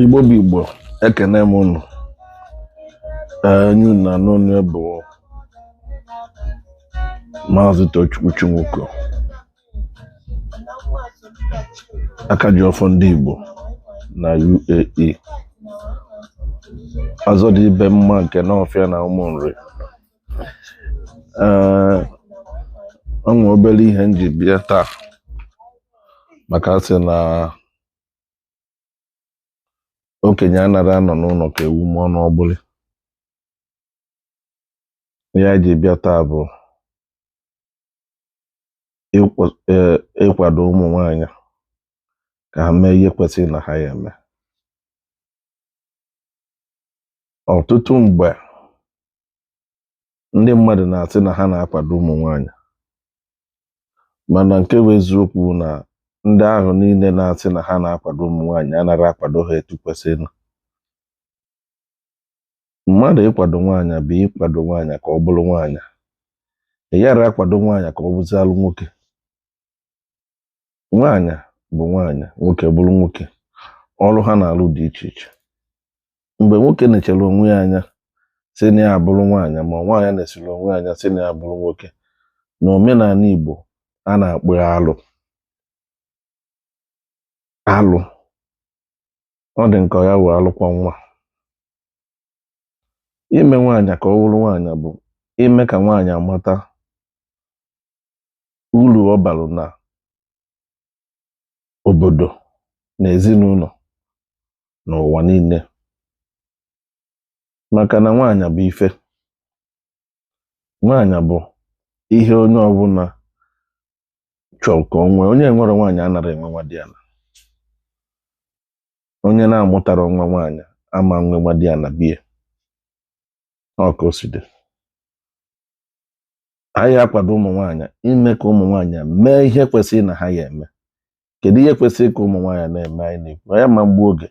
igbo bụ igbo ekene m unu onye unu na-anụ onu ya bụ maazị tochukwu chinwuko aka ji ọfọ ndị igbo na uae ọzọ dị ibe mma nke nawfia na ụmụnri ee o nwe obere ihe m ji bịa taa maka a sị na okenye anara anọ n'ụlọ ka ewu mụọ n'ọgbụlị ihe anyị ji bịa taa bụ ịkwa- eh, ịkwado ụmụ nwanyị ka ha mee ihe kwesịrị na ha ya eme ọtụtụ mgbe ndị mmadụ na-asị na ha na-akwado ụmụ nwanyị mana nke bụ eziokwu na ndị ahụ niile na-asị na ha na-akwado ụmụ nwanyị anaghị akwado ha etu kwesịrị mmadụ ịkwado nwaanyị bụ ịkwado nwaanyị ka ọ bụrụ nwaanyị ị yara akwado nwaanyị ka ọ bụzịalụ nwoke nwaanyị bụ nwaanyị nwoke bụrụ nwoke ọrụ ha na-alụ dị iche iche mgbe nwoke nechara onwe ya anya sị na ya abụrụ nwaanyị ma nwaanyị nesịrị onwe ya anya sị na ya abụrụ nwoke na omenala Igbo a na-akpọ ya alụ alụ ọ dị nke ya wụ alụ kwọ nwa ime nwaanyị ka ọ bụrụ nwaanyị bụ ime ka nwaanyị amata uru ọ balụ na obodo na ezinụlọ na ụwa niile maka na nwaanyị bụ ife nwaanyị bụ ihe onye ọbụla chọrọ ka o nwee onye enwerọ nwaanyị anara enwe nwadiala onye na-amụtarọ nwa nwaanyị ama nwe nwadiala be ya ọ ka o si dị anyị akwado ụmụ nwaanyị ime ka ụmụ nwaanyị mee ihe kwesịrị na ha ya eme kedu ihe kwesịrị ka ụmụ nwaanyị na-eme anyị na-ekwu ya ma mgbe oge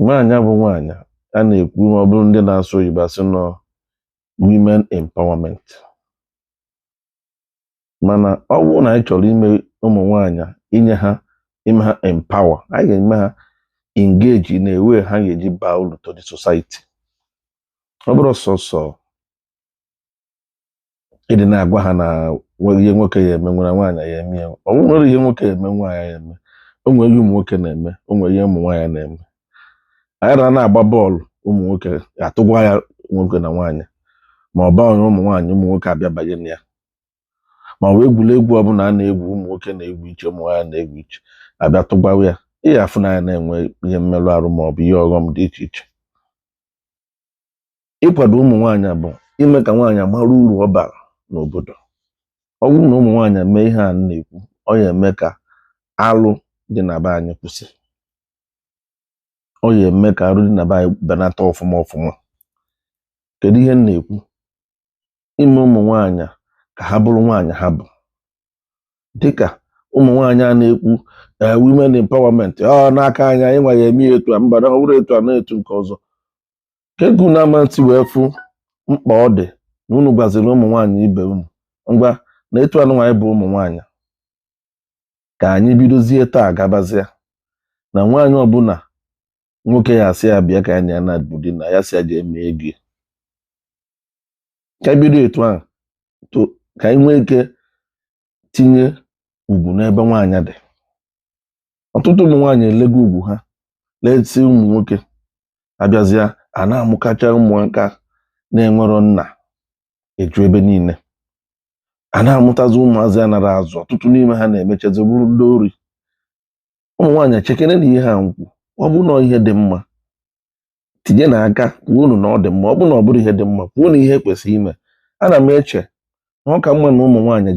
nwaanyị bụ nwaanyị a na-ekwu ma ọ bụrụ ndị na-asụ oyibo asị na ọ women empowerment mana ọ bụrụ na anyị chọrọ ime ụmụ nwaanyị inye ha ime ha empower anyị ga-eme ha engage in a way ha ga-eji baa uru to the society ọ bụrọ sọsọ ịdị na-agwa ha na ihe nwoke ya emenwu nwaanyị ya eme ya o nwere ihe nwoke ya eme nwaanyị ya eme o nwere ihe ụmụ nwoke na-eme o nwere ihe ụmụ nwaanyị na-eme anyị na na-agba bọọlụ ụmụ nwoke a tụgwa ya nwoke na nwaanyị ma ọ bụ ụmụ nwaanyị ụmụ nwoke abịa banye na ya ma ọ bụ egwuregwu ọbụla a na-egwu ụmụ nwoke na-egwu iche ụmụ nwaanyị na-egwu iche a bịa tụgwaa ya ị ya afụ na a na-enwe ihe mmerụ arụ ma ọ bụ ihe ọghọm dị iche iche ịkwado ụmụ nwaanyị bụ ime ka nwaanyị mara uru ọ bara n'obodo ọ bụrụ na ụmụ nwaanyị mee ihe a na-ekwu ọ ya eme ka alụ dị na be anyị kwụsị ọ ya eme ka arụ dị na be anyị benata ọfụma ọfụma kedu ihe m na-ekwu ime ụmụ nwaanyị ka ha bụrụ nwaanyị ha bụ dịka ụmụ nwaanyị a na-ekwu eh, women empowerment ọ ah, n'aka anyị anyị nwa ya eme ya etu a mba na ọ bụrọ etu a na etu nke ọzọ ka ego na amanti wee fụ mkpa ọ dị na unu gwaziri ụmụ nwaanyị ibe unu ngwa na etu anyị nwa anyị bụ ụmụ nwaanyị ka anyị bidozie taa gabazie na nwaanyị ọbụla nwoke ya asị ya bịa ka anyị na ya naba dina ya sị ya jee mee ego ka anyị bido etu ahụ to- ka anyị nwee ike tinye ugwu n'ebe nwaanyị dị ọtụtụ ụmụ nwaanyị elego ugwu ha lesi ụmụ nwoke a bịazịa a na-amụkacha ụmụaka na-enwerọ nna eju ebe niile a na-amụtazi ụmụazị a narọ azụ ọtụtụ n'ime ha na-emechazi bụrụ ndị ori ụmụ nwaanyị chekenenụ ihe a m kwu ọ bụ na ihe dị mma tinyenụ aka kwuonụ na ọ dị mma ọ bụrụ na ọ bụrọ ihe dị mma kwuonụ ihe kwesịrị ime ana m eche na ọ ka mma na ụmụ nwaanyị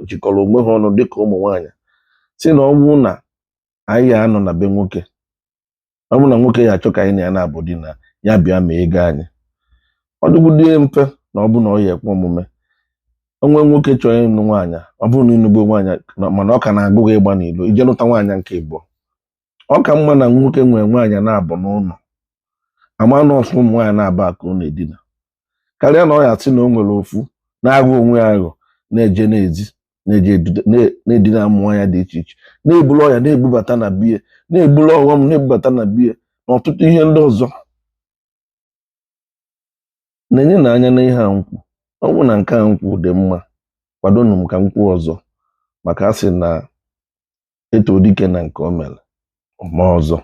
jikọrọ onwe ha ọnụ dịka ụmụ nwaanyị sị na ọ bụrụ na anyị ya anọ na be nwoke ọ bụrụ na nwoke ya achọ ka anyị na ya naba dina ya bịa mee ego anyị ọ dịgbudo mfe na ọ bụ na ọ ya ekwe omume o nwee nwoke chọrọ ịnụ nwaanyị ọ bụrụ na ị nụgo nwaanyị mana ọ ka na-agụ gị ịgba n'ilo i jee nụta nwaanyị nke ịbụọ ọ ka mma na nwoke nwere nwaanyị naabọ n'ụnọ a ma na ọ sọ ụmụ nwaanyị naabọ a ka ọ na-edina karịa na ọ ya sị na o nwere ofu na-aghọ onwe ya aghọ na-eje n'ezi na-eje edude- na- na-edina ụmụ nwaanyị dị iche iche na-eburu ọya na-ebubata na be ya na-eburu ọghọm na-ebubata na be ya na ọtụtụ ihe ndị ọzọ nenenụ anya n'ihe a m kwu ọ bụ na nke a m kwu dị mma kwadonụ m ka m kwuo ọzọ maka a sị na e too dike na nke o mere o mee ọzọ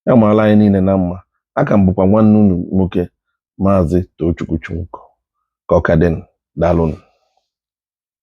ya maala anyị niile na mma aka m bụkwa nwanne unu nwoke maazị Tochukwu Chunko ka ọ ka dị daalụnụ